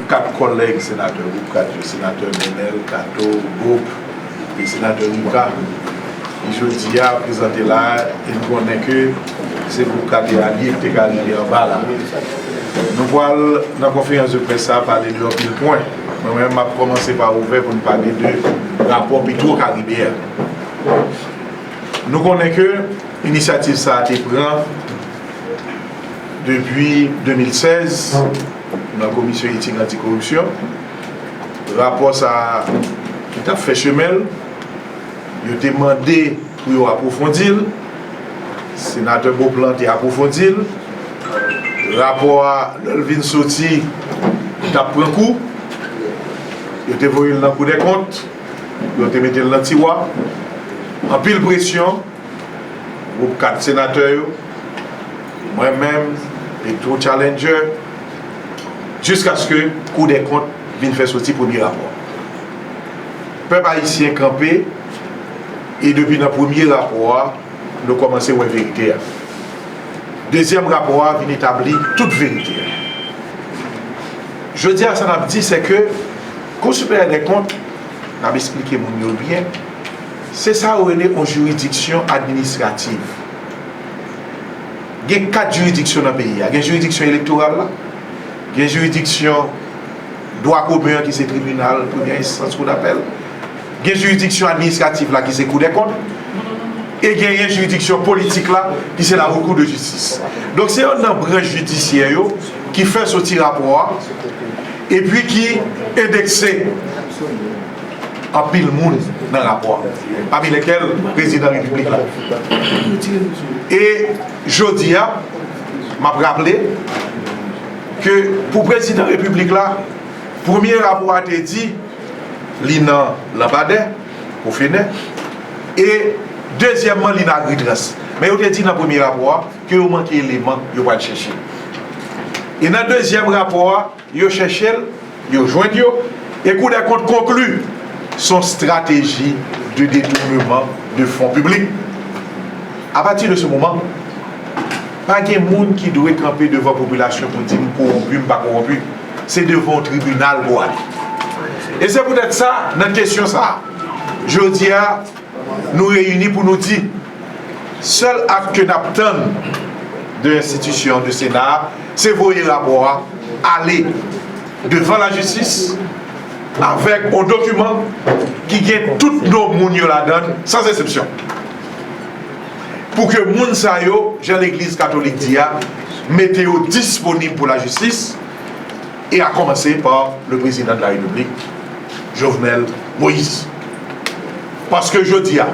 Kat kòlèg senatè Gwoup 4 yo, Senatè Nenel Cato, Gop, e Senatè Luca, ki jodi a prezante la a, e nou konnen ke se Gwoup 4 e alye ki te ka rive anba la. Nou pral nan konferans de près sa a pale de anpil pwen. Mwen menm map kòmanse pa ouvè pou n pale de rapò Petro Karibe a. Nou konnen ke inisyativ sa a te pran depi 2016 nan komisyon etik anti koripsyon. Rapò sa a ki tap fè chemen l, yo te mande pou yo apwofondi l. Senatè Beauplan te apwofondi l, rapò a lè l vin soti li t ap pran kou, yo te voye l nan kou dè kont, yo te mete l nan tiwa, anpil presyon gwoup 4 senatè yo, mwen menm e two tchalendjè jiskaske kou dè kont vin fè soti premye rapò. Pèp ayisyen kanpe. E depi nan premye rapò a, nou kòmanse wè verite a. Dezyèm rapò a vin etabli tout verite a. Jodi a sa n ap di se ke Kou Siperyè dè Kont, n ap esplike moun yo byen, se sa yo rele yon jiridiksyon administrativ. Gen kat jiridiksyon nan peyi a. Gen jiridiksyon elektoral la, gen jiridiksyon. dwa komen an ki se tribinal premyè enstans, kou dapèl, gen jiridiksyon administratif la ki se kou dè kont, e genyen jiridiksyon politik la ki se la Haute Cour de Justice. Donk se yon nan branch jidisyè yo ki fè soti rapò a epi ki endekse anpil moun nan rapò a, pami lèkèl prezidan repiblik la. E jodi a, m ap raple. Ke pou prezidan repiblik la, premye rapò a te di li nan lanbadè, pou fenè, e dezyèmman li nan agritrans. Men yo te di nan premye rapò a ke yo manke eleman yo pral chèche. E nan dezyèm rapò a, yo chèche l. Yo jwenn yo, e Kou dè Kont konkli s on strateji de detournement de fonds publics. A pati de se moman, pa gen moun ki dwe kanpe devan popilasyon pou di m kowonpi, m pa kowonpi. Se devan yon tribinal pou w ale. E se poutèt sa, nan kesyon sa a, jodi a, Nou reyini pou nou di, sèl act ke nap tann de enstitisyon de sena a, se voye rapò a ale devan la jistis avèk yon dokiman ki gen tout non moun yo ladann san zesepsyon pou ke moun sa yo, jan legliz katolik di a, mete yo disponib pou la jistis. E a komanse pa le prezidan de la repiblik Jovenel Moise. Paske jodi a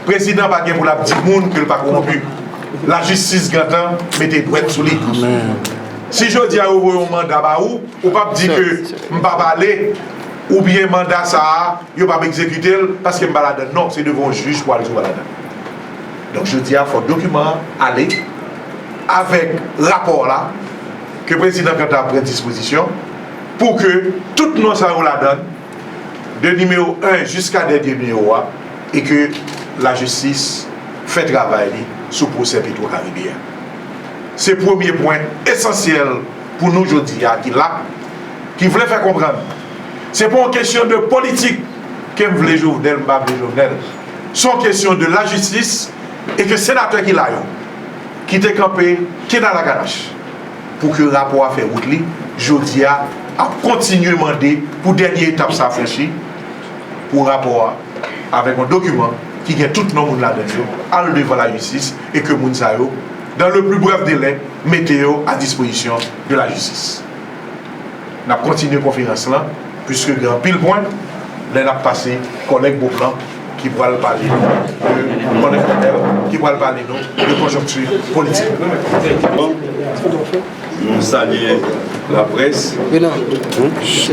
prezidan pa gen pou lap di moun ke l pa kowonpi. La jistis gentan mete dwèt sou li. Si jodi a yo voye yon manda ba ou, ou pap di ke m pap ale oubyen manda sa a yo pap ekzekite l paske m pa ladann. Non, se devan yon jij pou al di w pa ladann. Donk jodi a fòk dokiman an ale avèk rapò la. Ke prezidan Kantar pran dispozisyon pou ke tout non sa yo ladan, de nimewo 1 jiska dènye nimewo a, e ke lajistis fè travay li sou pwosè Petwo Karibe a. Se premye pwen esansyèl pou nou jodi a ki la, ki vle fè konprann se pa yon kesyon de politik ke m vle Jovenel, m pa vle Jovenel. Se yon kesyon de lajistis e ke senatè ki la yo, ki te kanpe kinalalakanache. Pou ke rapò a fè wout li, jodi a, ap kontinye mande pou dènye etap sa franchi, pou rapò a, avèk yon dokiman ki gen tout non moun ladan l yo, al devan lajistis e ke moun sa yo, dans le plus bref délai, mete yo a dispozisyon de la jistis. N ap kontinye konferans lan, puiske gen anpil pwen, lè n ap pase kòlèg Beauplan. ki pral pale nou de Kòlèg Nanel ki pral pale nou de konjonkti politik. Bon, nou salye laprès,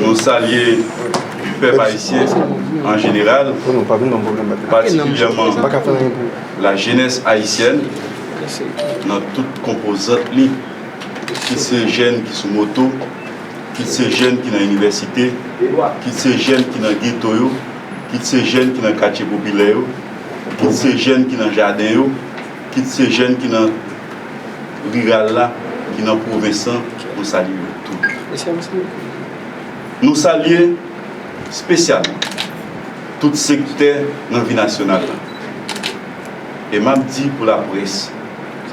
nou salye pèp ayisyen an jeneral, patikilyèman lajenès ayisyèn nan tout konpozant li, kit se jèn ki sou moto, kit se jèn ki nan inivèsite, kit se jèn ki nan geto yo. kit se jèn ki nan katye popilè yo, kit se jèn ki nan jaden yo, kit se jèn ki nan riral la, ki nan pwovens lan, nou salye yo tout. Nou salye spesyalman tout sektè nan vi nasyonal la. E m ap di pou laprès,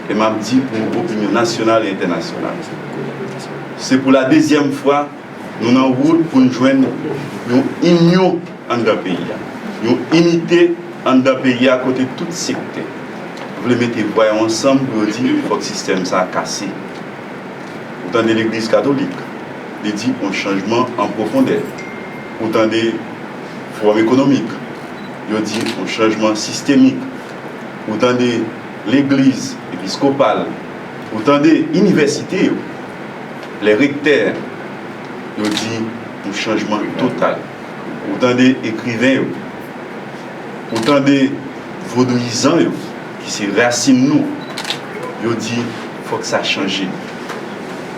e m ap di pou opinyon nasyonal e entènasyonal, se pou ladezyèm fwa, Nou nan wout pou n jwenn yon inyon anndan peyi a, yon inite anndan peyi a kote tout sektè vle mete vwa yo ansanm pou yo di fòk sistèm sa kase. Ou tande legliz katolik, li di yon chanjman an pwofondè. Ou tande fowòm ekonomik, yo di yon chanjman sistemik. Ou tande legliz episkopal, Ou tande inivèsite yo, lè rektè yo di yon chanjman total. Ou tande ekriven yo. Ou tande vodouyizan yo, ki se rasin nou, yo di fòk sa chanje.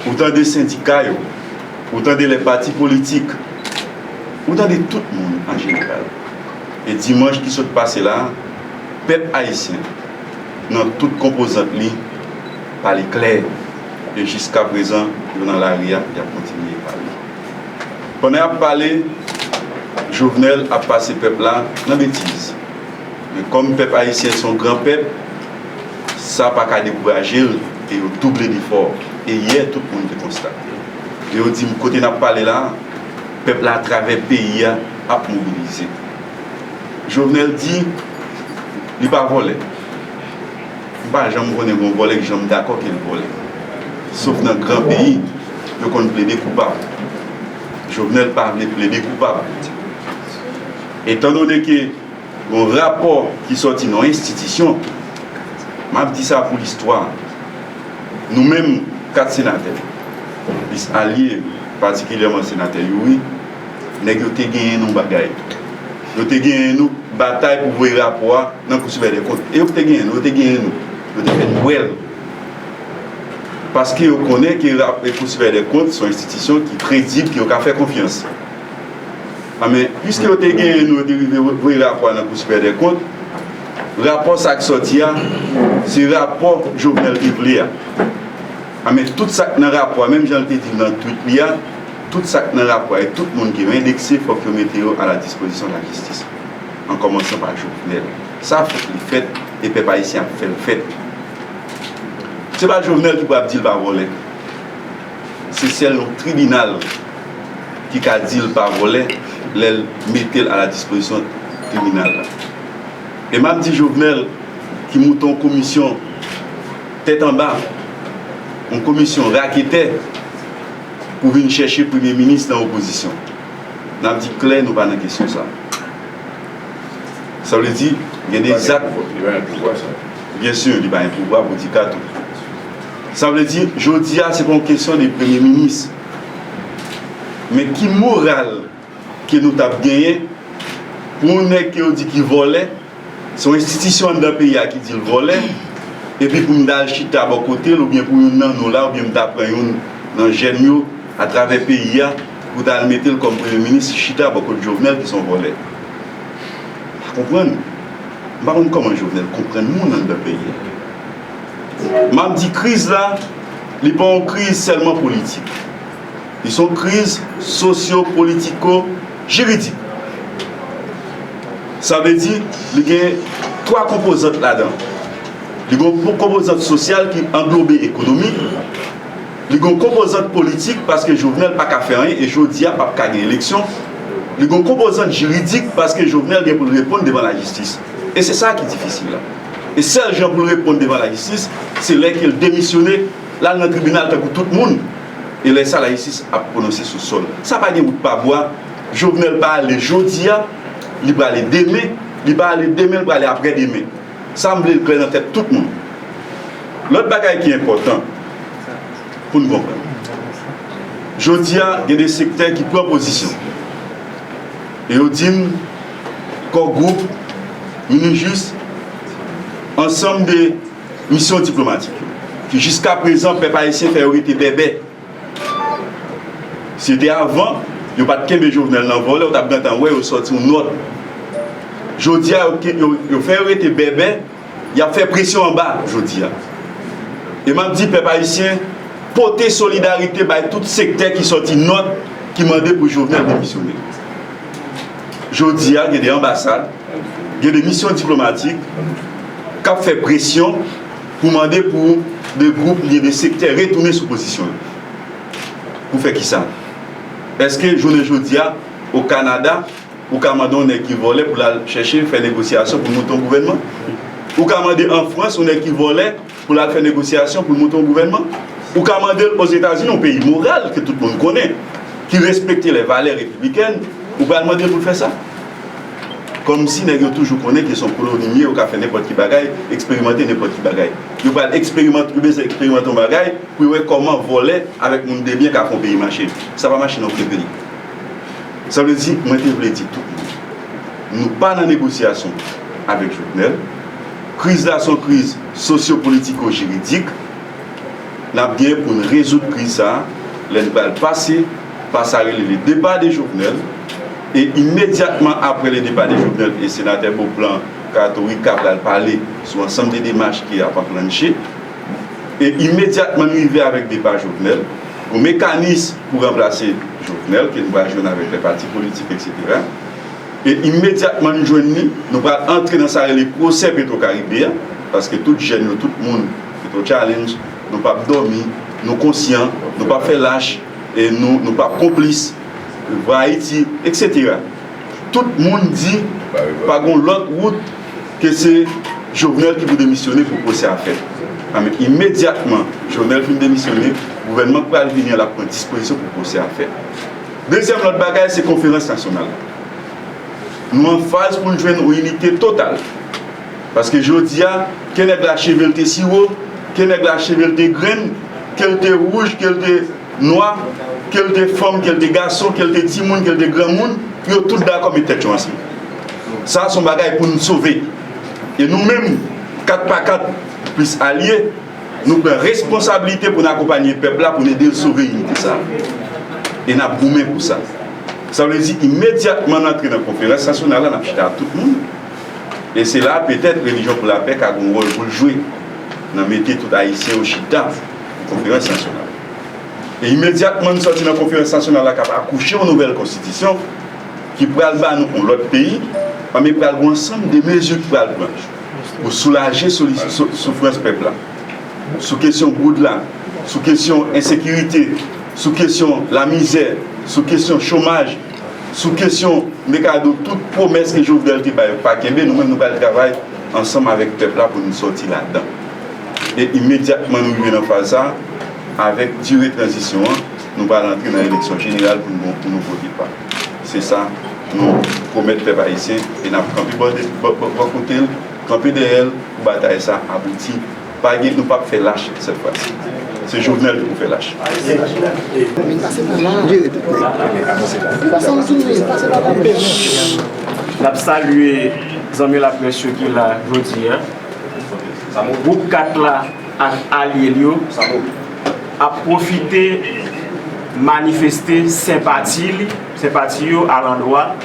Ou tande sendika yo. Ou tande lè pati politik. Ou tande tout moun an jeneral. E dimanch ki sot pase la a, pèp ayisyen. nan tout konpozant li, pale klè e jiska prezan yo nan lari a, y ap kontinye pale. Pandan y ap pale, Jovenel ap pase pèp la nan betiz. Men kòm pèp ayisyen se yon gran pèp, sa pa ka dekouraje l e yo double lefò. E yè tout moun te konstate l e yo di m kote n ap pale la a, pèp la atravè peyi a ap mobilize. Jovenel di. Li pa vòlè. M pa janm konnen gon vòlè ki janm dakò ke l vòlè. Sof nan gran peyi, yo konn plede koupab. Jovenel pa vle plede koupab. Etan done ke gon rapò ki sòti nan yon enstitisyon, m ap di sa pou listwa, nou menm 4 senatè, plis alye, patikilyèman Senatè Youri, nèg yo te genyen yon bagay. Yo te genyen nou batay pou voye rapò a nan kou sipèryè dè kont. E yo te genyen nou, yo te genyen nou. Yo te fè n bwè l. Paske yo konnen ke kou sipèryè dè kont son enstitisyon ki kredib, ke yo ka fè konfyans. A men, piske yo te genyen nou, yo te rive voye rapò a nan kou sipèryè dè kont, rapò sa k sòti a, se rapò Jovenel te vle a. A men, tout sa k nan rapò a, menm jan l te di l nan twit li a, Tout sa k nan rapò a e tout moun ki endekse fòk yo mete yo a la dispozisyon lajistis, an kòmansan pa Jovenel. Sa fòk li fèt e pèp ayisyen ap fè l fèt. Se pa Jovenel ki pou ap di l pa vòlè. Se sèl yon tribinal ki ka di l pa vòlè lè l mete l a la dispozisyon tribinal la. E m ap di Jovenel ki moute yon komisyon tèt anba, yon komisyon raketè, pou vin chèche premye minis nan opozisyon. N ap di klè nou pa nan kesyon sa. Sa vle di gen de zak. Byen sur li pa gen pouvwa pou di kato. Sa vle di jodi a se pa yon kesyon de premye minis men ki moral. ke nou tap genyen pou yon nèg ke yo di ki vòlè se yon enstitisyon anndan peyi a ki dil vòlè epi pou m ta al chita bò kote l oubyen pou youn nan nou la oubyen m ta pran youn nan jèn yo atravè peyi a pou ta al mete l kòm premye minis chita bò kot Jovenel ki se yon vòlè m pa konprann m pa konn kòman Jovenel konprann moun anndan peyi a map di kriz la li pa yon kriz sèlman politik. Li son kriz sosyo-politiko jiridik. Sa vle di li gen 3 konpozant ladan. Li gon konpozant sosyal ki anglobe ekonomi, li gon konpozant politik paske Jovenel pa ka fè anyen e jodi a pap ka gen eleksyon, li gon konpozant jiridik paske Jovenel gen pou l reponn devan lajistis. E se sa ki difisil la. E sèl jan pou l reponn devan lajistis se lè ke l demisyone. L al nan tribinal tankou tout moun, e lè sa la jistis ap pwononse sou sòl. Sa pa gen wout pa bwa. Jovenel pa ale jodi a, li prale demen, li pa ale demen, li prale aprè demen. Sa m vle l klè nan tèt tout moun. Lòt bagay ki enpòtan pou n konprann. Jodi a gen de sektè ki pran pozisyon e yo di m Core Group, Minijis, ansanm de. Misyon diplomatik yo, ke jiska prezan pèp ayisyen fè yo rete bèbè. Si yo te avan, yo pa t kenbe Jovenel nan vòlè, ou t ap gentan wè yo sòti yon nòt. Jodi a, yo fè yo rete bèbè, y ap fè presyon anba jodi a. E m ap di pèp ayisyen, pote solidarite bay tout sektè ki sòti nòt ki mande pou Jovenel demisyone. Jodi a gen de anbasad, gen de misyon diplomatik k ap fè presyon pou mande pou de gwoup oubyen de sektè retounen sou pozisyon yo. Pou fè kisa? Eske jounen jodi a o Kanada ou ka mande yon nèg ki vòlè pou l al chèche fè negosyasyon pou l monte yon gouvènman? Ou ka mande an Frans yon nèg ki vòlè Pou l al fè negosyasyon pou l monte yon gouvènman? Ou ka mande l Ozetazini, yon peyi moral ke tout moun konnen, ki respekte lè valè repiblikèn, ou pral mande l pou l fè sa? Kòmsi nèg yo toujou konnen ke se yon koloni li ye, yo ka fè nenpòt ki bagay, eksperimante nenpòt ki bagay. Yo pral eksperimante, yo bezwen eksperimante yon bagay pou yo wè kòman vòlè avèk moun debyen ka fè yon peyi mache. Sa pa mache nan okenn peyi. Sa vle di, mwen te vle di tout moun, nou pa nan negosyasyon avèk Jovenel, Kriz la son kriz sosyopolitiko-jiridik. N ap gen pou n rezoud kriz sa a lè n pral pase pa sa rele le départ de Jovenel e imedyatman apre le départ de Jovenel e Senatè Beauplan Katorika pral pale sou ansanm de demach ki ap anklannche e imedyatman n rive avèk depa Jovenel pou mekanis pou ranplase Jovenel ke n pral jwenn avèk lè pati politik eksetera. E imedyatman n jwenn li, nou pral antre nan sa rele pwosè Petro Caribe a, paske tout jèn yo, tout moun Petro Challenge, nou p ap dòmi, nou konsyan, nou p ap fè lach, e nou nou p ap konplis, Vwa Ayiti, eksetera. Tout moun di pa gon lòt wout ke se Jovenel ki pou demisyone pou pwosè a fèt. Anben, imedyatman Jovenel fin demisyone, gouvènman k pral vini an l ap pran dispozisyon pou pwosè a fèt. Dezyèm lòt bagay se konferans nasyonal la. Nou an faz pou n jwenn yon inite total. Paske jodi a, ke nèg la cheve l te siwo, ke nèg la cheve l te grenn, ke l te wouj, ke l te nwa, ke l te fanm, ke l te gason, ke l te timoun, ke l te granmoun, yo tout dakò met tèt yo ansanm. Sa a se yon bagay pou n sove. E nou menm, 4 pa 4 plis alye, Nou pran responsabilite pou n akonpanye pèp la pou n ede l sove inite sa a. E n ap goumen pou sa. Sa vle di imedyatman n antre nan konferans nasyonal la n ap chita ak tout moun. E se la petèt Relijyon pou Lapè ka gen yon wòl pou l jwe nan mete tout Ayisyen yo chita pou konferans nasyonal. E imedyatman n sòti nan konferans nasyonal la k ap akouche yon nouvèl konstitisyon ki pral ba nou yon lòt peyi, anben pral gen yon ansanm de mezi ki pral pran. Pou soulaje soufrans pèp la, sou kesyon goud la, sou kesyon ensekirite, sou kesyon lamizè, sou kesyon chomaj, sou kesyon mekado tout pwomès ke Jovenel te bay yo pa kenbe, nou menm nou pral travay ansanm avèk pèp la pou nou sòti ladan. E imedyatman nou rive nan faz sa a, avèk dire tranzisyon an, nou pral antre nan eleksyon jeneral pou nou vote pa. Se sa nou pwomèt pèp ayisyen e n ap kanpe bò kote l, kanpe dèyè l pou batay sa a abouti. Pa gen, nou p ap fè lach sèt fwa si. Se Jovenel nou pou fè lach. ak alye l yo ap pwofite manifeste senpati yo alandwa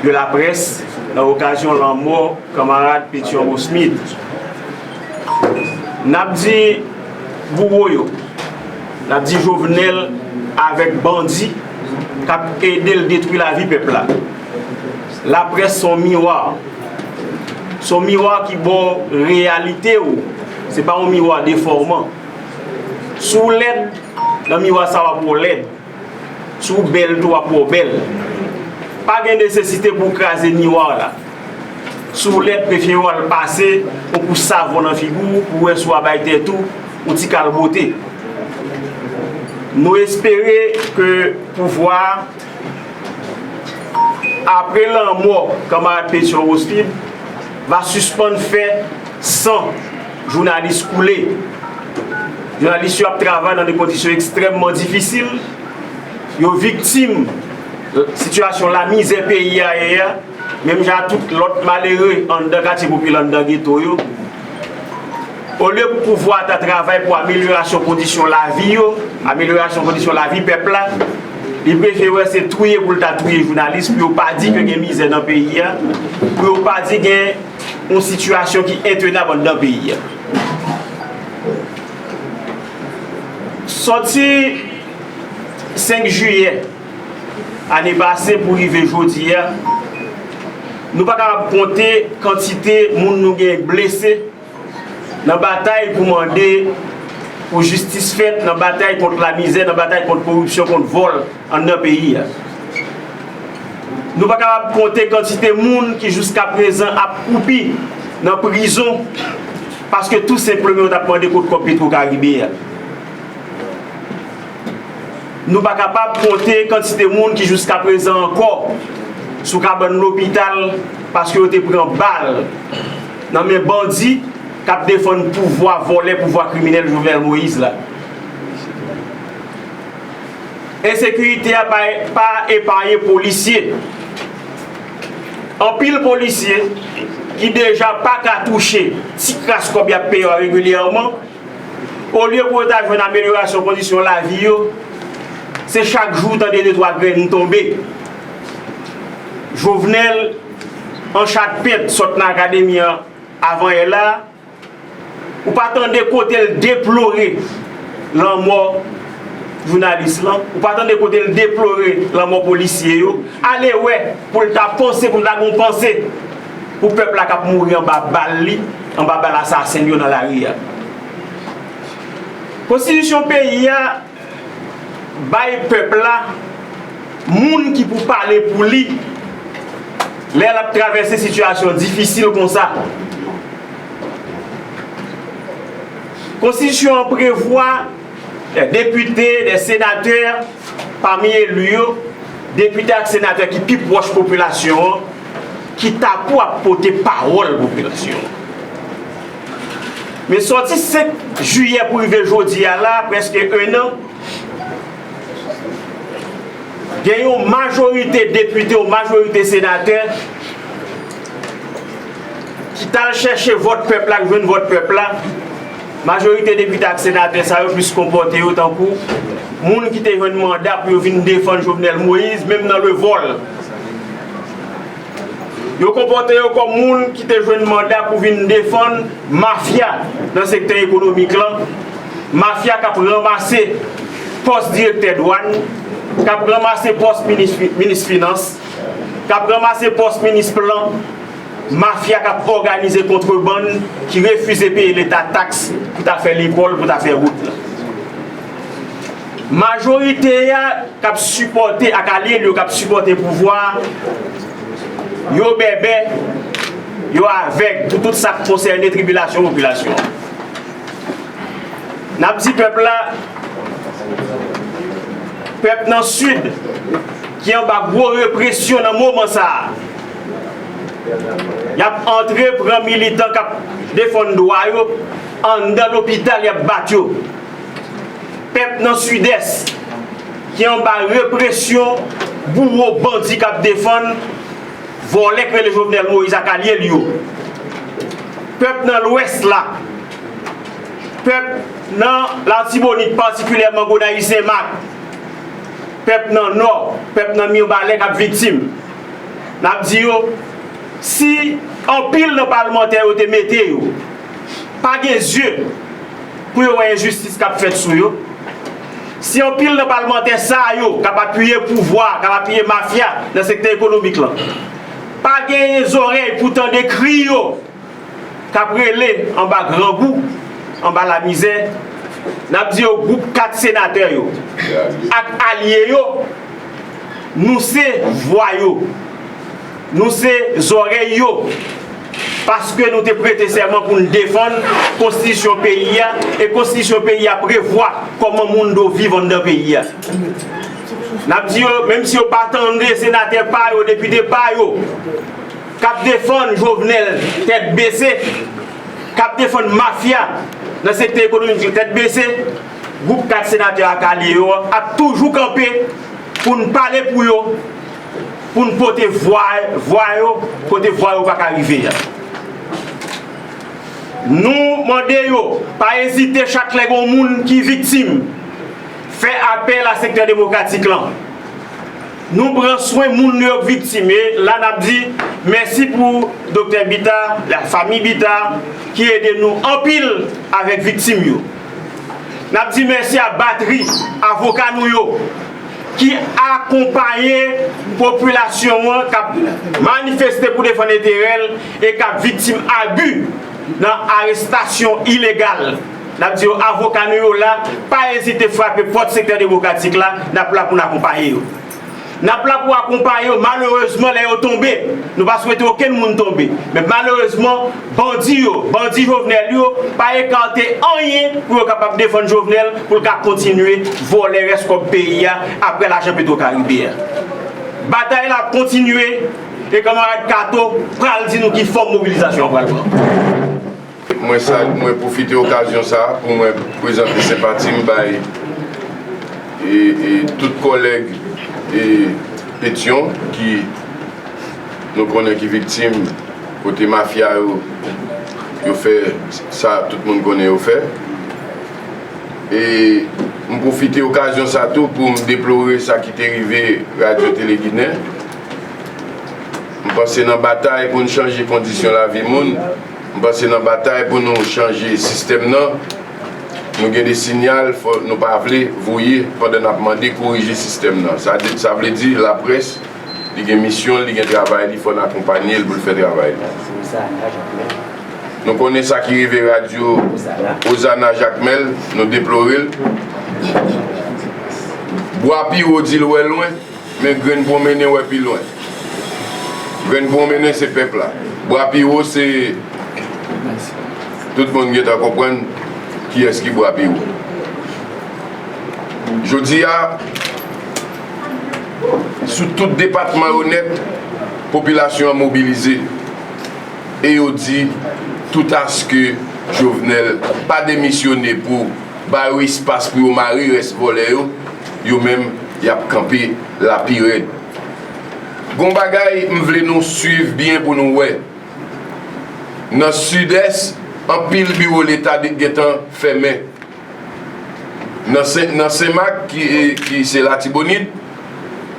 de laprès nan okazyon lanmò kanmarad Pétion Rosmith. N ap di bouwo yo, n ap di Jovenel avèk bandi k ap ede l detwi lavi pèp la, laprès s on miwa, s on miwa ki ba w reyalite w. Se pa yon miwa defòman. Si w lèd, nan miwa sa w ap wè w lèd. Si w bèl tou, w ap wè w bèl. Pa gen nesesite pou w kraze miwa w la. Si w lèd, prefere w al pase yon kous savon nan figi w pou w wè si w a bay tèt ou yon ti kal bote. Nou espere ke pouvwa a, apre lanmò kanmarad Pétion Rosfilm, va sispann fè. San jounalis koule. Jounalis yo ap travay nan de kondisyon ekstrèmman difisil. Yo viktim sitiyasyon lamizè peyi a ye a, menm jan ak tout lòt malere anndan katye popilè, anndan geto yo. Olye pou pouvwa a ta travay pou amelyorasyon kondisyon lavi yo, amelyorasyon kondisyon lavi pèp la, li prefere wè se touye pou l ta touye jounalis pou yo pa di ke gen mizè nan peyi a, pou yo pa di gen. yon sitiyasyon ki entenab anndan peyi a. Sòti 5 jiyè ane pase pou rive jodi a, nou pa kapab konte kantite moun nou gen blese nan batay pou mande pou jistis fèt, nan batay kont lamizè, nan batay kont koripsyon, kont vòl. Anndan peyi a. Nou pa kapab konte kantite moun ki jiskaprezan ap kwoupi nan prizon paske tou senpleman yo t ap mande kot kòb Petwo Karibe a. Nou pa kapab konte kantite moun ki jiskaprezan ankò sou kabann lopital paske yo te pran bal nan men bandi k ap defann pouvwa vòlè, pouvwa kriminèl Jovenel Moïse la. Ensekirite a pa epaye polisye. Anpil polisye ki deja pa ka touche ti kras kòb y ap peye yo a regilyèman, olye pou yo ta jwenn amelyorasyon kondisyon lavi yo, se chak jou ou tande de twa grenn tonbe. Jovenel an chat pent sot nan akademi an avanyè la a. Ou pa tande kote l deplore lanmò jounalis lan, ou pa tande kote l deplore lanmò polisye yo. Ale wè pou l ta panse, pou l ta gen yon panse pou pèp la k ap mouri anba bal li, anba bal asasen l yo nan lari a. Konstitisyon peyi a. Bay pèp la moun ki pou pale pou li lè l ap travèse sitiyasyon difisil konsa. Konstitisyon an prevwa de depite, de senatè, pami eli yo, depite ak senatè ki pi pwòch popilasyon an ki ta pou ap pote pawòl popilasyon an. Men sòti 5 jiyè pou rive jodi a la, prèske ennan, gen yon majorite depite ou majorite senatè ki t al chèche vòt pèp la, ki jwenn vòt pèp la, majorite depite ak senatè sa yo plis konpòte yo tankou moun ki te jwenn manda pou yo vin defann Jovenel Moïse menm nan le vòl. Yo konpòte yo kòm moun ki te jwenn manda pou vin defann mafya nan sektè ekonomik lan, mafya k ap ranmase pòs direktè dwàn, k ap ranmase pòs minis finans, k ap ranmase pòs minis plan, mafya k ap òganize kontrebann, ki refize peye leta taks pou ta fè lekòl, pou ta fè wout. Majorite a k ap sipòte ak alye l yo k ap sipòte pouvwa a, yo bèbè, yo avèg pou tout sa k konsène tribilasyon popilasyon an. N ap di pèp la, pèp nan Sid ki anba gwo represyon nan moman sa a, y ap antre pran militan k ap defann dwa yo anndan lopital y ap bat yo. Pèp nan Sidès ki anba represyon bouwo bandi k ap defann vòlè k rele Jovenel Moïse ak alye l yo. Pèp nan Lwès la, pèp nan Latibonit patikilyèman Gonayiv Senmak, pèp nan Nò, pèp nan Mirbalè k ap viktim. N ap di yo si anpil nan palmantè yo te mete yo. pa gen zye pou yo wè enjistis kap fèt sou yo. Si anpil nan palmantè sa yo kap apiye pouvwa, kap apiye mafya nan sektè ekonomik lan pa genyen zòrèy pou tande kri yo kap rele anba grangou, anba lamizè, nap di yo gwoup 4 senatè yo ak alye yo nou se vwa yo. Nou se zòrèy yo, paske nou te prete sèman pou n defann konstitisyon peyi a, e konstitisyon peyi a prevwa kòman moun do viv anndan peyi a. N ap di yo, menm si yo pa tande senatè pa yo, depite pa yo, k ap defann Jovnèl tèt bese, k ap defann mafya nan sektè ekonomik yo tèt bese, gwoup 4 senatè ak alye yo ap toujou kanpe pou n pale pou yo, pou n pote vwa yo kote vwa yo pa ka rive a. Nou mande yo pa ezite chak lè gen yon moun ki viktim fè apèl a sektè demokratik lan. Nou pran swen moun nou yo k viktim e la n ap di mèsi pou Doktè Bita, lafanmi Bita ki ede nou anpil avèk viktim yo. N ap di mèsi a batri avoka nou yo. ki akonpaye popilasyon an k ap manifeste pou defann enterè l e k ap viktim abi nan arestasyon ilegal. N ap di yo avoka nou yo la, pa ezite frape pòt sektè demokratik la, n ap la pou n akonpaye yo. N ap la pou akonpaye yo malerezman lè yo tonbe, nou pa swete okenn moun tonbe, men malerezman, Bandi yo, bandi Jovenel yo pa ekarte anyen pou yo kapab defann Jovenel pou l ka kontinye vòlè rès kòb peyi a aprè lajan Petro Caribe a. Batay la ap kontinye e kanmarad Kato pral di nou ki fòm mobilizasyon an pral pran. Mwen sal, mwen pwofite okazyon sa a pou mwen prezante senpati m bay e tout kòlèg e Petion ki. Nou konnen ki viktim kote mafya yo yo fè sa tout moun konnen yo fè. E m pwofite okazyon sa tou pou m deplore sa ki te rive Radyo Tele Ginen. M panse nan batay pou n chanje kondisyon lavi moun, m panse nan batay pou nou chanje sistèm nan, nou gen de sinyal nou pa vle voye pandan n ap mande korije sistèm nan. Sa vle di laprès. Li gen misyon l, li gen travay li, fò n akonpanye l pou l fè travay li. Nou konnen sa ki rive radyo Ozana Jakmèl, nou deplore l. Bwa pi wo di l wè lwen, men grenn pwonmennen wè pi lwen. Grenn pwonmennen se pèp la. Bwa pi wo se, tout moun gen tan konprann kiyès ki bwa pi wo. Jodi a. Sou tout depatman yo nèt, popilasyon an mobilize e yo di tout aske Jovenel pa demisyone pou ba yo espas pou yo mare rès vòlè yo, yo menm y ap kanpe la pi rèd. Gon bagay m vle nou swiv byen pou nou wè, nan Sidès anpil biwo leta gentan fèmen. Nan Senmak ki se Latibonit,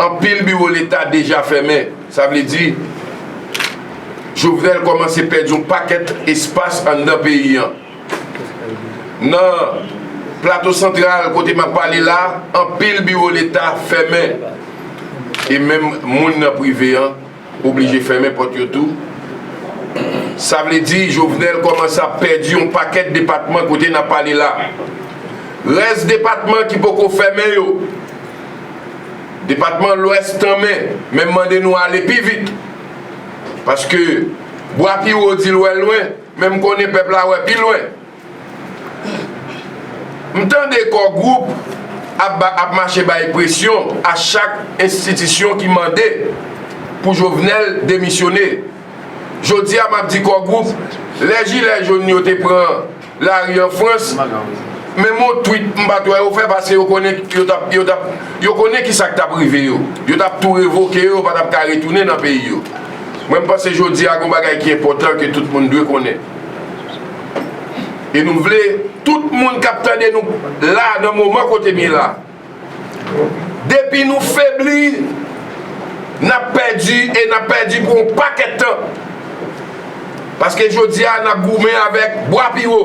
anpil biwo leta deja fèmen. Sa vle di, Jovenel kòmanse pèdi yon pakèt espas anndan peyi an. Nan Plato Santral kote m ap pale la, anpil biwo leta fèmen e menm moun nan prive an Oblije fèmen pòt yo tou. Sa vle di Jovenel kòmanse ap pèdi yon pakèt depatman kote n ap pale la. Rès depatman ki poko fèmen yo, depatman Lwès tanmen men m mande nou ale pi vit. Paske bwa pi wo di l wè lwen men m konnen pèp la wè pi lwen. M tande Kò Gwoup ap mache bay presyon a chak enstitisyon ki mande pou Jovenel demisyone. Jodi a m ap di Kò Gwoup, lè jilè jonn yo te pran lari an Frans, menm yon twit m pa t wè yo fè paske yo konnen yo t ap, yo konnen ki sa k t ap rive yo. Yo t ap tou revoke yo, yo pa t ap ka retounen nan peyi yo. Mwen m panse jodi a gen yon bagay ki enpòtan ke tout moun dwe konnen. E nou vle tout moun k ap tande nou la nan moman kote m ye la. Depi nou febli, n ap pèdi e n ap pèdi pou yon pakèt tan. Paske jodi a n ap goumen avèk bwa pi wo.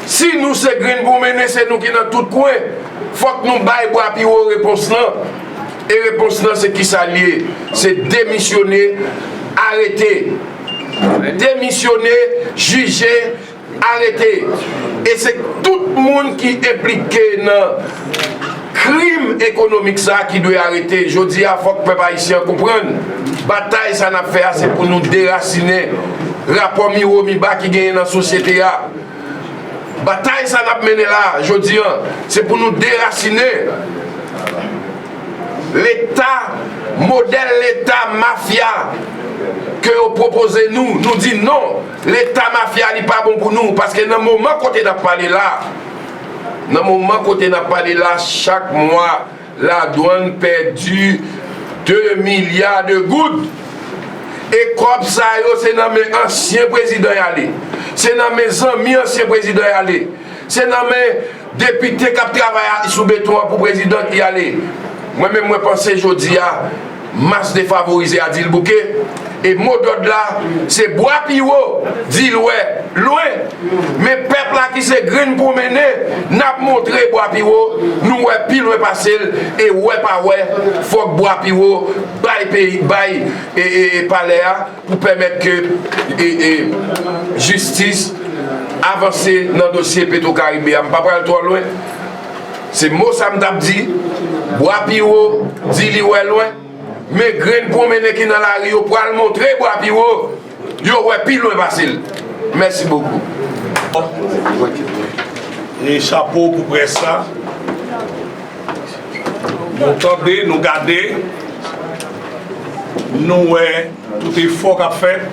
Si nou se grenn pou mennen se nou ki nan tout kwen, fòk nou bay bwa pi wo repons lan. E repons lan se kisa l ye? Se demisyone, arete. demisyone, jije, arete e se tout moun ki enplike nan krim ekonomik sa ki dwe arete jodi a fòk pèp ayisyen konprann batay sa nap fè a se pou nou derasine rapò miwo miba ki genyen nan sosyete a batay sa nap mennen la jodi an se pou nou derasine Leta, modèl leta mafya ke yo pwopoze nou, nou di non, leta mafya li pa bon pou nou, paske nan moman kote nap pale la, nan moman kote nap pale la, chak mwa ladwann pèdi 2 milya de goud, e kòb sa yo se nan men ansyen prezidan yale, se nan men zanmi ansyen prezidan yale, se nan men Depite kap travay a sou beton an pou prezidan ki ale. Mwen menm mwen panse jodi a mas defavorize a dil bouke e mo dòd la se bwa pi wo di lwè lwen men pèp la ki se grenn pwonmene nap montre bwa pi wo nou wè pi lwen pasel e wè pa wè fòk bwa pi wo bay peyi bay palè a. pou pèmèt ke jistis avanse nan dosye petro karibe a m pa pral twò lwen se mo sa m tap di bwa piwo di li wè lwen men grenn pwonmennen ki nan lari yo pral montre bwa piwo yo wè pi lwen pase l mèsi bokou. E chapo pou près la. Nou tande, nou gade, nou wè tout efò k ap fèt,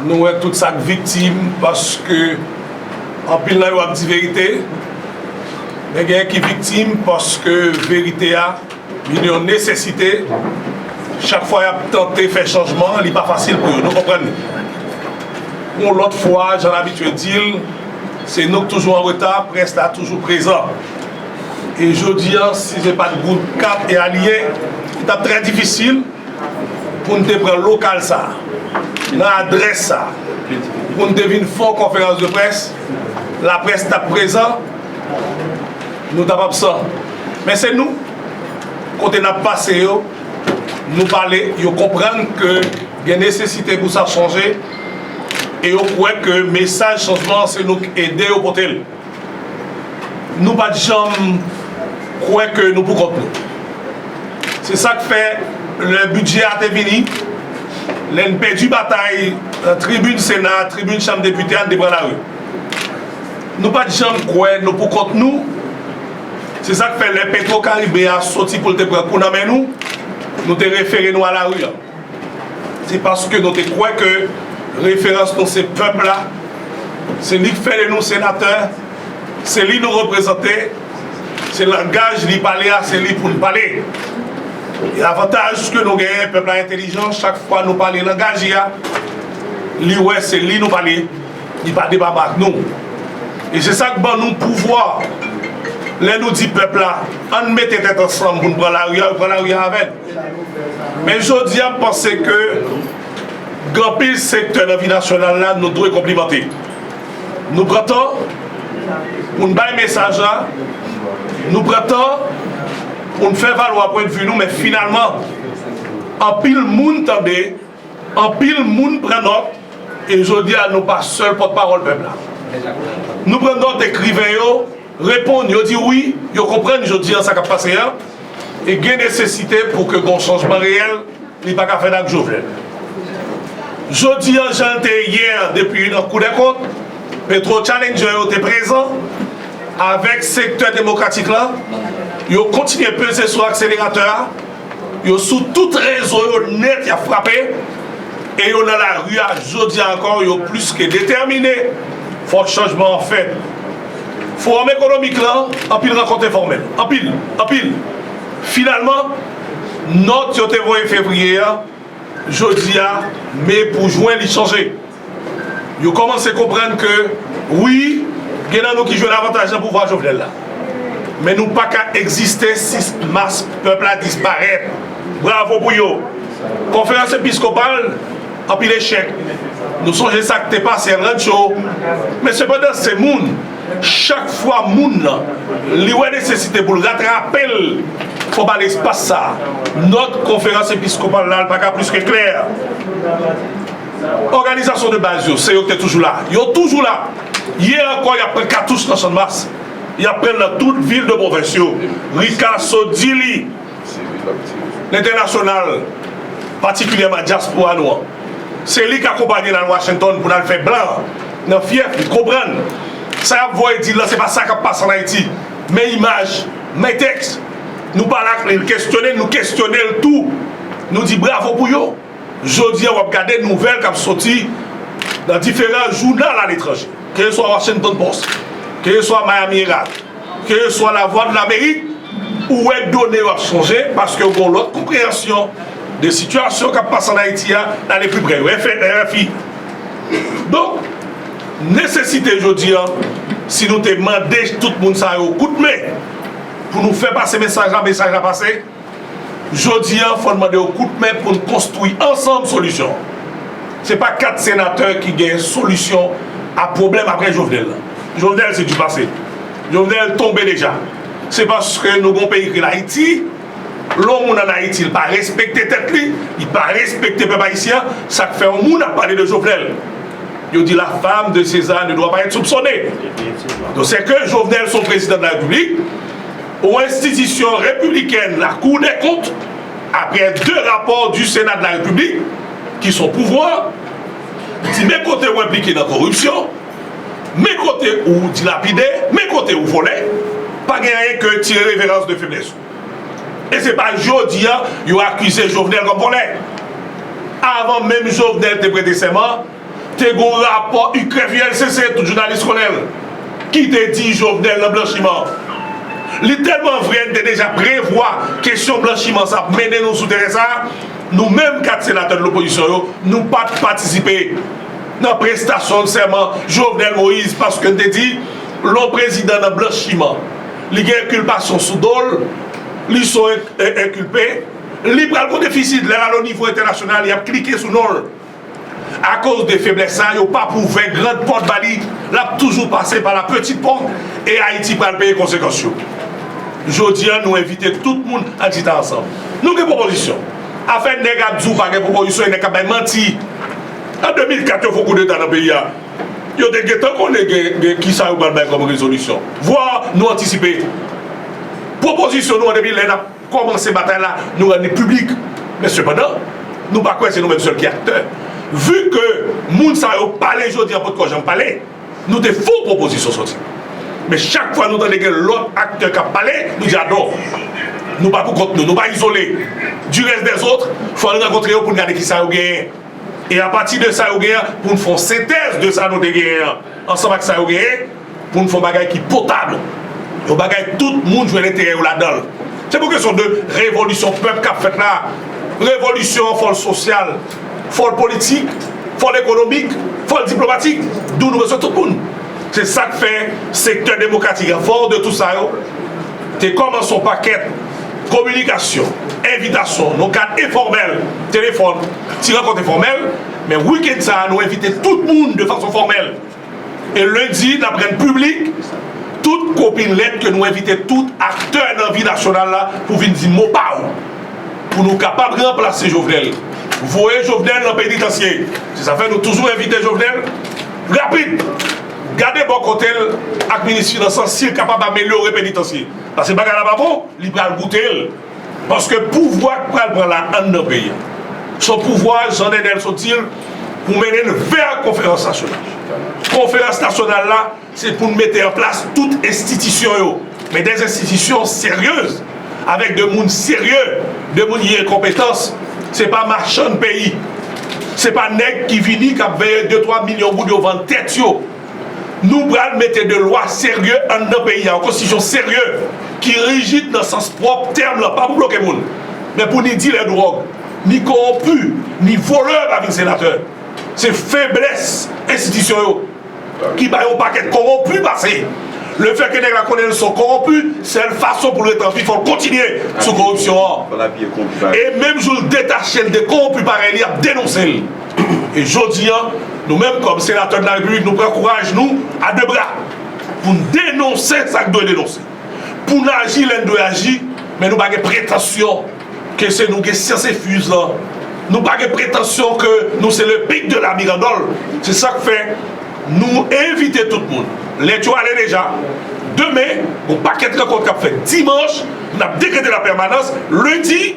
nou wè tout sa k viktim paske anpil nan yo ap di verite, men genyen ki viktim paske verite a. Vin yon nesesite, chak fwa y ap tante fè chanjman, li pa fasil pou yo. Nou konprann li. Pou yon lòt fwa, jan n abitye di l, se nou k toujou an reta, près la toujou prezan. E jodi a, si se pa t gwoup 4 e alye, li t ap trè difisil pou n te pran lokal sa a, nan adrès sa a, pou n te vin fè yon konferans de près, laprès t ap prezan, Nou ta pap san. Men se nou, kote n ap pase yo, nou pale, yo konprann ke gen nesesite pou sa chanje e yo kwè ke mesaj chanjman an se nou k ede yo pote l. Nou pa t janm kwè ke nou poukont nou. Se sa k fè lè bidjè a te vini, lè n pèdi batay nan tribin Sena a, tribin Chanm Depite a, n te pran lari. Nou pa t janm kwè nou pou kont nou. Se sa k fè lè Petwo Karibe a soti pou l te pran kou nan men nou, nou te refere nou a lari an. Se paske nou te kwè ke referans nou se pèp la, se li k fè de nou senatè, se li nou reprezante, se langaj li pale a se li pou n pale. E avantaj ke nou genyen pèp la entelijan chak fwa nou pale langaj li a, li wè se li nou pale. Li pa depaba ak nou. E se sa k ban nou pouvwa. Lè nou di pèp la, an n mete tèt ansanm pou n pran lari a, yo pran lari a avè n. Men jodi a, m panse ke gen anpil sektè nan vi nasyonal la nou dwe konplimante. Nou pran tan pou n bay mesaj la, nou pran tan pou n fè valwa pwendvi nou, men finalman anpil moun tande. Anpil moun pran nòt e jodi a nou pa sèl pòt pawòl pèp la. Nou pran nòt ekriven yo reponn yo di wi yo konprann jodi an sa kap pase an e gen nesesite pou ke gon chanjman reyèl li paka fèt ak Jovenel. Jodi an janl te yè an depi nan kou dè kont petro challenger yo te prezan avèk sektè demokratik lan yo kontinye peze sou akseleratè a Yo sou tout rezo yo nèt yap frape e yo nan lari a jodi a ankò yo plis ke detèmine fò chanjman an fèt Fowòm ekonomik lan anpil rankont enfòmèl anpil anpil finalman nòt yo te voye fevriye a jodi a me pou jwen li chanje. Yo kòmanse konprann ke wi, gen nan nou ki jwenn avantaj nan pouvwa Jovenel la. Men nou pa ka egziste si mas pèp la disparèt. Bravo pou yo. Konferans episkopal, anpil echèk. Nou sonje sa k te pase El Rancho. Men sepandan se moun. Chak fwa moun lan, li wè nesesite pou l ratrape l, fò ba l espas sa. Nòt konferans episkopal la pa ka plis ke klè. Òganizasyon de baz yo, se yo ki te toujou la. Yo toujou la. Yè ankò y ap pran katouch nan Channmas. Y ap pran l nan tout vil de pwovens yo. Rikaso, Dili, Lentènasyonal, patikilyèman dyaspora nou an. Se li k akonpanye n al Washington pou n al fè blan an nan fyèf li konprann sa y ap voye di l lan se pa sa k ap pase ann Ayiti. Men imaj, men tèks. Nou pale ak li, l kesyone n, nou kesyone l tou. Nou di bravo pou yo. Jodi a w ap gade nouvèl k ap soti nan diferan jounal aletranje, keyeswa Washington Post, keyeswa Miami Herald, keyeswa La Vwa de Lamerik, ou wè done yo ap chanje paske yo gen yon lòt konpreyansyon de sitiyasyon k ap pase ann Ayiti a, n ale pi prè yo, RFI. Donk, nesesite jodi a, si nou te mande tout moun sa yo kout men pou nou fè pase mesaj la, mesaj la pase. Jodi an fò n mande yo kout men pou n konstwi ansanm solisyon an. Se pa 4 senatè ki gen solisyon a pwoblèm aprè Jovenel lan. Jovenel se du passé. Jovenel tonbe deja. Se paske nou gen yon peyi ki rele Ayiti, lè yon moun an Ayiti li pa respekte tèt li, li pa respekte pèp ayisyen an, sa k fè yon moun ap pale de Jovenel. Yo di la fam de Seza ne dwa pa èt soupsone. Definitman. Donk sèke Jovenel se yon prezidan de la Repiblik. O enstitisyon repibliken la kou dè kont apre 2 rapò di sena de la repiblik ki son pouvwa di men kote ou enplike nan koripsyon men kote ou dilapide men kote ou vole pa gen anyen ke tire reverans de feblès ou e se pa jodi a yo akize jovenel kom vole avan menm jovenel te prete sèman Te gon rapò UCREF-ULCC, tout jounalis konnen l, ki te di Jovenel nan blanchiman. Li tèlman vre n te deja prevwa kesyon blanchiman sa ap mennen nou sou teren sa, nou menm 4 senatè de l'opposition yo, nou pa t patisipe nan prestasyon sèman Jovenel Moïse paske n te di lè w prezidan nan blanchiman, li gen enkilpasyon sou do l, li son enkilpe, li pral gon defisit lè l al onivo entènasyonal y ap klike sou non l. Akoz de feblès sa yo pap ouvè grand pòt ba li lap toujou pase pa la petit pòt e Ayiti pral peye konsekans yo. Jodi an nou envite tout moun an chita ansanm. Nou gen pwopozisyon. Afè nèg ap di w pa gen pwopozisyon e nèg k ap bay manti. An 2004 yo fon koudeta nan peyi a yo te gentan konnen gen kisa yo pral bay kòm rezolisyon. Vwa nou antisipe pwopozisyon nou an depi lè n ap. Kòmanse batay la, nou rann li piblik. Men sepandan, nou pa kwè se nou menm sèl ki aktè. Vu ke moun sa yo pale jodi an potkò janm pale, nou te fon pwopozisyon soti. Men chak fwa nou tande gen lòt aktè k ap pale, nou di adò. Nou pa pou kont nou, nou pa izole. Du reste des autres, fò n rankontre yo pou n gade kisa yo genyen. E apati de sa yo genyen an, pou n fon sentèz de sa nou te genyen an, ansanm ak sa yo genyen, pou n fè yon bagay ki potab, yon bagay tout moun jwenn enterè yo ladan l. Se pou kesyon de revolisyon pèp k ap fèt la a. Revolisyon an fò l sosyal, fò l politik, fò l ekonomik, fò l diplomatik, dou nou bezwen tout moun. Se sa k fè sektè demokratik an fò de tou sa yo te kòmanse yon pakèt kominikasyon, envitasyon nan kad enfòmèl, telefòn, ti rankont enfòmèl. Men wikenn sa a nou envite tout moun de fason fòmèl. E lendi, n ap rann piblik tout kopi lèt ke nou envite tout aktè nan vi nasyonal la pou vin di mo pa ou pou nou kapab ranplase Jovenel, voye Jovenel nan penitansye. Se sa fè nou toujou envite Jovenel rapid gade bò kote l ak minis finans lan si l kapab amelyore penitansye. Paske bagay la pa bon, li pral goute l. Paske pouvwa k pral pran la anndan peyi a, s on pouvwa Jan Nènèl sot di l pou mennen n vè konferans nasyonal. Konferans nasyonal la se pou n mete an plas tout enstitisyon yo, men de enstitisyon seryez, avèk de moun serye, de moun ki gen konpetans, se pa machann peyi, se pa nèg ki vini k ap veye de twa milyon goud yo vann tèt yo. Nou pral mete de lwa serye anndan peyi a, yon konstitisyon serye ki rijid nan sans pwòp tèm lan, pa pou bloke moun, men pou ni dilè dwòg, ni kowonpi, ni volè pa vin senatè. Se feblès enstitisyon yo ki bay yon pakèt kowonpi pase. Lefètke nèg la konnen l son kowonpi, sèl fason pou l ret anvi fò l kontinye sou kowonpsyon an. E menm jou l detache l de kowonpi parèy li ap denonse l. E jodi an, nou menm kòm senatè nan Larepiblik, nou pran kouraj nou a de bra pou n denonse sa k dwe denonse, pou n aji lè n dwe aji, men nou pa gen pretansyon ke se nou gen syans enfuz lan, nou pa gen pretansyon ke nou se le pic de la mirandole. Se sa k fè nou envite tout moun, lèt yo ale deja, demen gon pakèt rankont k ap fèt, dimanch n ap dekrete la pèmanans, lendi,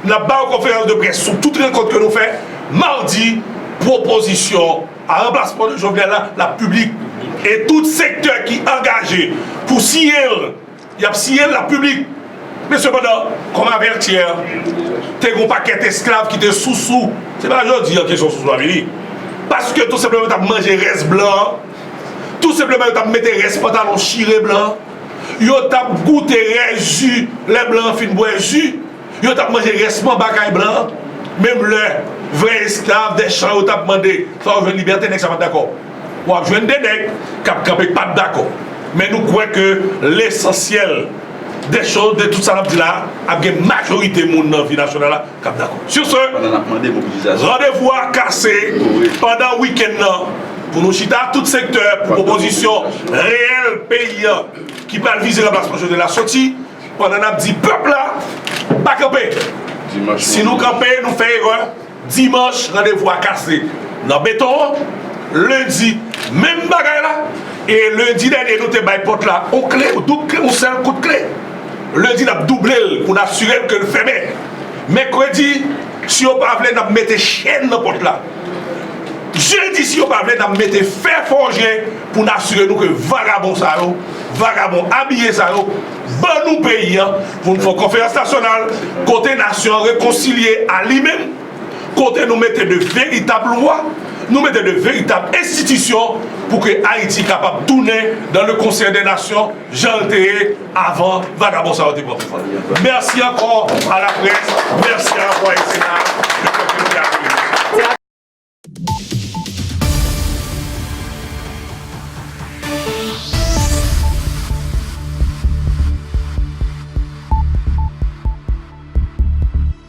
N ap ba yon konferans de près sou tout rekont ke nou fè madi pwopozisyon a ranplasman de Jovenel la l ap piblik e tout sektè ki angaje pou siyen l y ap siyen l l ap piblik men sepandan kòm avètyè te gen yon pakèt esklav ki te sousou se pa jodi an kesyon sousou a vini paske tou senpleman yo t ap manje rès blan tou senpleman yo t ap mete rès pantalon chire blan. Yo t ap goute rès ji lè blan an fin bwè ji. Yo t ap manje rès manba kay blan an. Menm lè vrè esklav dè chan yo t ap mande fè yo jwenn libète nèg sa pa t dakò. W ap jwenn de nèg k ap kanpe pa t dakò. Men nou kwè ke lesansyèl dè chòz, de tout sa n ap di la a, ap gen majorite moun nan vi nasyonal la. kap dakò. Sur ce, randevou a kase pandan wikenn nan pou nou chita ak tout sektè pou pwopozisyon reyèl peyi an ki pral vize ranplasman Jovenel la soti pandan nap di pèp la pa kanpe. Si nou kanpe nou fè erè. Dimanch randevou a kase nan beton an. Lendi menm bagay la. E lendi dènye nou te bay pòt la on kle, on doub kle, on sèl kout kle. Lendi n ap double l pou n asire n ke l fèmen. Mèkredi, si yo pa vle n ap mete chenn nan pòt la. Jedi, si yo pa vle n ap mete fè fòje pou n asire nou ke vagabon sa yo, vagabon abiye sa yo ban nou peyi an pou n fè yon konferans nasyonal kote nasyon an rekonsilye a li menm, kote nou mete de veritab lwa, nou mete de veritab enstitisyon pou ke Ayiti kapab tounen dan le konsè dè nasyon. Janl te ye avan vagabon sa yo te pran pouvwa. Merci ankò a la près, merci a la voix du Sénat de pèp yo te akoze.